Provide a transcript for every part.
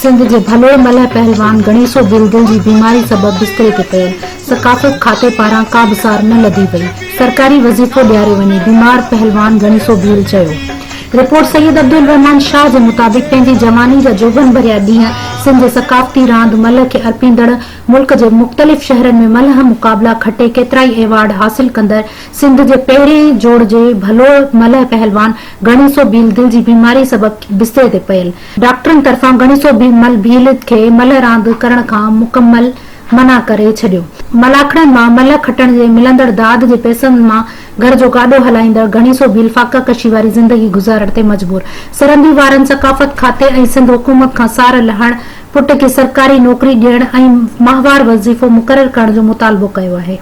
سنڌ جي ڀلوڙ ملهه پهلوان گڻيسو ڀيل دل جي بيماري سبب بستري تي پيل، ثقافت کاتي پاران ڪا به سار نه لڌي وئي، سرڪاري وظيفو ڏياريو وڃي، بيمار پهلوان گڻيسو ڀيل چيو. رپورٽ سيد عبدالرحمان شاهه جي مطابق پنهنجي جواني جا جوڀن ڀريا ڏينهن سنڌ جي ثقافتي راند ملهه کي ارپيندڙ ملڪ جي مختلف شهرن ۾ ملهه مقابلا کٽي ڪيترائي ايوارڊ حاصل ڪندڙ سنڌ جي پهرين جوڙ جي ڀلو ملهه پهلوان ڳڻيسو ڀيل دل جي بيماري سبب بستري تي پيل، ڊاڪٽرن طرفان ڳڻيسو ڀيل کي ملهه راند ڪرڻ کان مڪمل منع ڪري ڇڏيو. ملاکڙن مان ملهه کٽڻ جي ملندڙ داد جي پئسن مان گهر جو گاڏو هلائيندڙ ڳڻيسو ڀيل فاقه ڪشي واري زندگي گذارڻ تي مجبور، سرندي وارن ثقافت کاتي ۽ سنڌ حڪومت کان سار لهڻ، پٽ کي سرڪاري نوڪري ڏيڻ ۽ ماهوار وظيفو مقرر ڪرڻ جو مطالبو ڪيو آهي.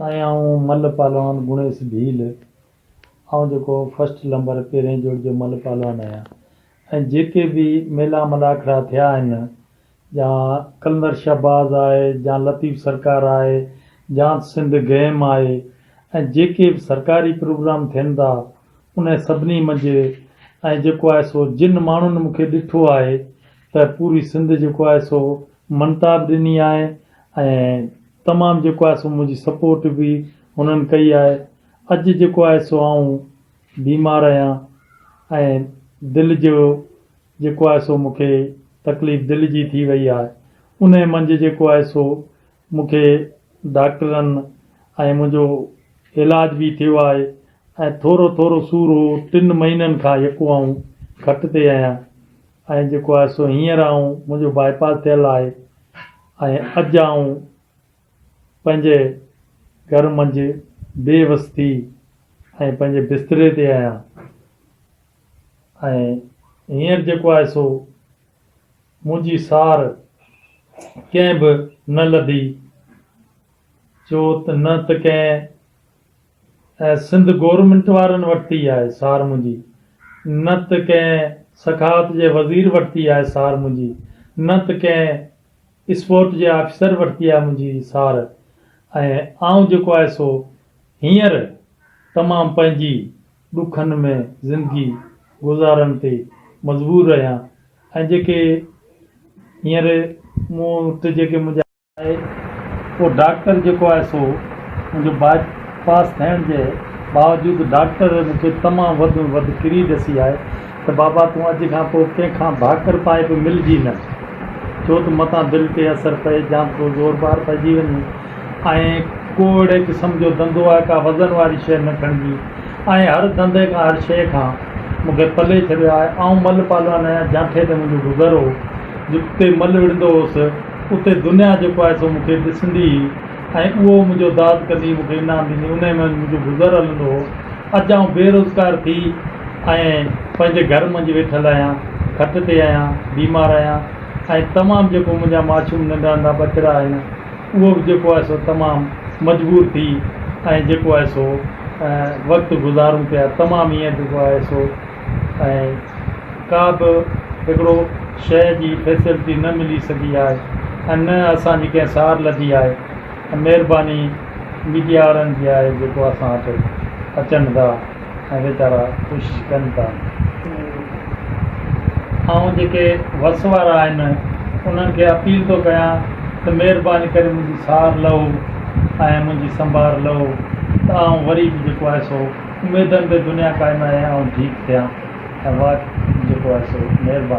سائين آئون ملهه پهلوان گڻيس ڀيل آئون جيڪو فرسٽ لمبر پهرين جوڙ جو ملهه پهلوان آهيان ۽ جيڪي به ميلا ملاکڙا ٿيا آهن جا قلندر شهباز آهي جا لطيف سرڪار آهي جا سنڌ گيم آهي ۽ جيڪي به سرڪاري پروگرام ٿين ٿا انهن سڀني منجهه ۽ جيڪو آهي سو جن ماڻهن مون کي ڏٺو آهي ته پوري سنڌ جيڪو آهي سو مڃتا به ڏني آهي ۽ تمام جيڪو آهي سو منهنجي سپورٽ به هنن ڪئي آهي اڄ جيڪو آهي سو آئون بيمار اهيان ۽ دل جو جيڪو آهي سو مونکي تڪليف دل جي ٿي وئي آهي انهي منجهه جيڪو آهي سو مونکي ڊاڪٽرن ۽ منهنجو علاج به ٿيو آهي ۽ ٿورو ٿورو سور هو ٽن مهينن کان يڪو آئون کٽ تي اهيان. ۽ جيڪو آهي سو هينئر آئون منهنجو باء پاس ٿيل آهي ۽ اڄ آئون پنهنجي گهر منجهه بي وس ٿي ۽ پنهنجي بستري تي آهيان ۽ هينئر جيڪو آهي سو منهنجي سار ڪنهن به نه لڌي ڇو ته نه ته ڪنهن ۽ سنڌ گورنمينٽ وارن ورتي آهي سار منهنجي، نه ته ڪنهن سخاوت جي وزير ورتي آهي سار منهنجي، نه ته ڪنهن اسپورٽ جي آفيسر ورتي آهي منهنجي سار ۽ آئون جيڪو آهي سو هينئر تمام پنهنجي ڏکن ۾ زندگي گذارڻ تي مجبور رهيان ۽ جيڪي هينئر مون وٽ جيڪي منهنجا آهي ڪو ڊاڪٽر جيڪو آهي سو منهنجو باء پاس ٿيڻ جي باوجود ڊاڪٽر مون کي تمام وڌ ۾ وڌ ڪري ڏسي آهي ته بابا تون اڄ کان پوء ڪنهن کان ڀاڪر پائي به ملجي نه ڇو ته متان دل تي اثر پئي جام ڪو زور بار پئجي وڃي ۽ ڪو اهڙي قسم جو ڌنڌو آهي ڪا وزن واري شيء نه کڻجي ۽ هر ڌنڌي کان هر شيء کان مون کي پلي ڇڏيو آهي آئون مل پالوان آهيان جانٺي تي منهنجو گذر هو جتي مل وڙهندو هوس اتي دنيا جيڪو آهي سو مون کي ڏسندي هئي ۽ اهو منهنجو داد ڪندي هئي، مون کي انعام ڏيندي هئي، انهيء منجهه منهنجو گذر هلندو هو. اڄ آئون بي روزگار ٿي ۽ پنهنجي گهر منجهه ويٺل آهيان، کٽ تي آهيان، بيمار آهيان ۽ تمام جيڪو منهنجا معشوم ننڍا ننڍا ٻچڙا آهن اهو به جيڪو آهي سو تمام مجبور ٿي ۽ جيڪو آهي سو وقت گذارون پيا تمام هيئن جيڪو آهي سو ۽ ڪا به هڪڙو شهر جي فيسلٽي نه ملي سگهي آهي ۽ نه اسان جي ڪنهن سار لڌي آهي ۽ مهرباني ميڊيا وارن جي آهي جيڪو اسان وٽ اچن ٿا ۽ ويچارا ڪوشش ڪن ٿا آئون جيڪي وس وارا آهن انهن کي اپيل ٿو ڪيان ته مهرباني ڪري منهنجي سار لهو ۽ منهنجي سنڀار لهو ته آئون وري به جيڪو آهي سو اميدن تي دنيا قائم آهي آئون ٺيڪ ٿيان ۽ واهه جيڪو آهي سو مهرباني.